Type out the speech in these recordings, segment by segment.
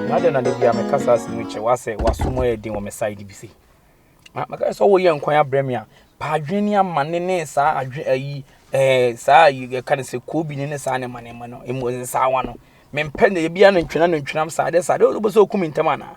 na dɛn na da bia meka saa asɛm yi kyɛ wo asɛ wasom yɛ den wɔ me side bi se maka sɛ woyɛ nkwan abrɛ me a pa adwene ne amane ne saa adwene ayi ɛɛ saa yi yɛka no sɛ koobi ne ne saa ne ma ne ma no emu saa wa no mempɛ ne bia no ntwena no ntwenam saa de saa de wobɛ sɛ okum ntɛm anaa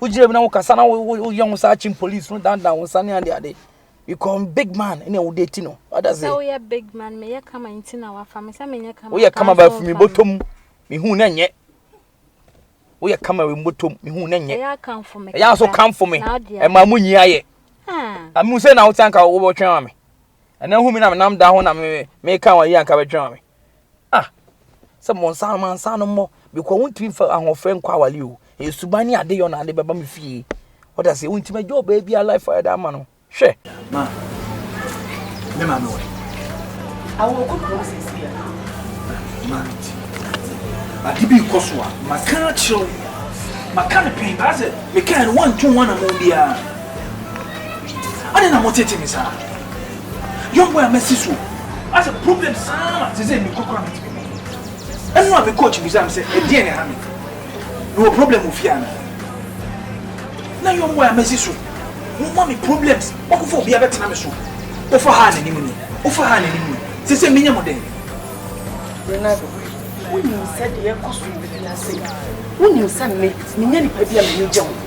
wogyina bi na wokasa na woyɛ wo saa kyin police no dandan wo nsa ne ade ade because big man ne a wode ti no ɔda sɛ woyɛ big man meyɛ kama nti na wafa me sɛ menyɛ kama woyɛ kama ba fumi bɔtɔm mehu na nyɛ woyɛ kama wɔ mbɔtɔm mehu na nyɛ ɛyɛ akamfo me ɛyɛ aso kamfo me ɛma mu nyi ayɛ amu sɛ na wote anka wobɛtwɛn wa me ɛnɛ hu me na menam da ho na meka wayɛ anka bɛtwɛn wa me Ah! Sɛ mɔnsa no mansa no mmɔ because wontumi mfa ahoɔfɛ nkɔ awale o. Ɛyɛ suban ne adeyɔ na ade bɛba me fie. Wode aseɛ wontumi agya ɔbaa biara life a yɛde ama no. Hwɛ! Ma me maame wɔ he? Awɔ kɔ kuro sisi a. Ma nti. Ade bi kɔ so a maka akyerɛ wo. Maka no pɛn paa sɛ mekae no woantu ho anammɔn biara. Ade na motete me saa. Young boy a masi so. Asɛ problem saa ma sɛ sɛ mekɔ kora metumi kɔ. Ɛno a me coach bisa me sɛ ɛdeɛn ne ha me? Mewɔ problem wɔ fie anaa? Na young boy a masi so. Moma me problems. Wakɔfa obi abɛtena me so. Wofa ha a n'anim ni. Wofa ha a n'anim ni. Sɛ sɛ menyɛ mo dɛn? Ronaldo, wonim sɛ deɛ ɛkɔ so wɔ fie ha sei. Wonim sɛ me, menyɛ nipa bi a m'ani gye ho.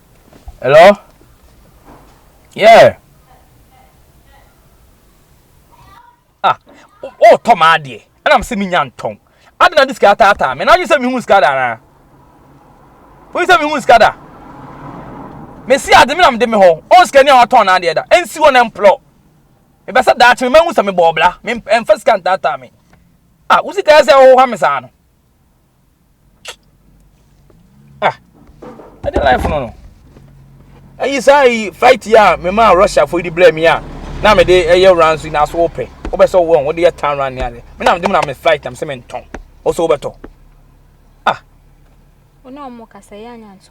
Hello? Yeah. Ah, oh, tɔ maa deɛ. Ɛna m sɛ mi nya ntɔn. Adi na di sika ataataa. Mɛ n'adwi sɛ mi hu sika da anaa. Woyi sɛ mi hu sika da. Mɛ si adi mi na mi de mi hɔ. Ɔn sika ni a watɔn n'adeɛ da. Ɛnsi hɔ na mplɔ. Mɛ bɛ sɛ daakye mi mɛ hu sɛ mi bɔ ɔbla. Mɛ nfa sika ntaataa mi. Ah, wo sika yɛ sɛ ɔwɔ ha mi saa no. ah ɛde life no no ayi saa yi flight yi a mema russia fo de brɛ me a na mede ɛyɛ wura nso na so wopɛ wobɛ sɛ wɔn wode yɛ tan wura ne ade me na mede mu na me flight na me sɛ me ntɔn wɔsɛ wobɛtɔ ah ɔne ɔmo kasa yɛ anya nso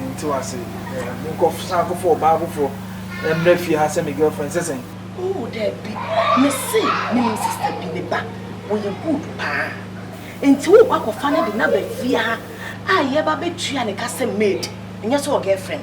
Mente wo ase. Monkɔsan kɔfa ɔbaa foforɔ mmra fie ha sɛ me girlfriend sɛ sɛn? Ooh daabi, mese menim sister bi, ne ba, ɔyɛ good paa. Enti worekɔ akɔfa no de no aba fie ha a yɛreba abɛtua ne ka sɛ maid, nyɛ sɛ ɔgirlfriend.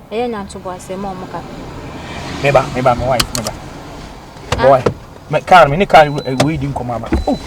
Ɛyɛ nya ntoboaseɛ ma wɔn kakra. Meba, meba, me wife, meba. Ah. Me wife, me car, me ne car wei di nkɔmɔ aba. Oh.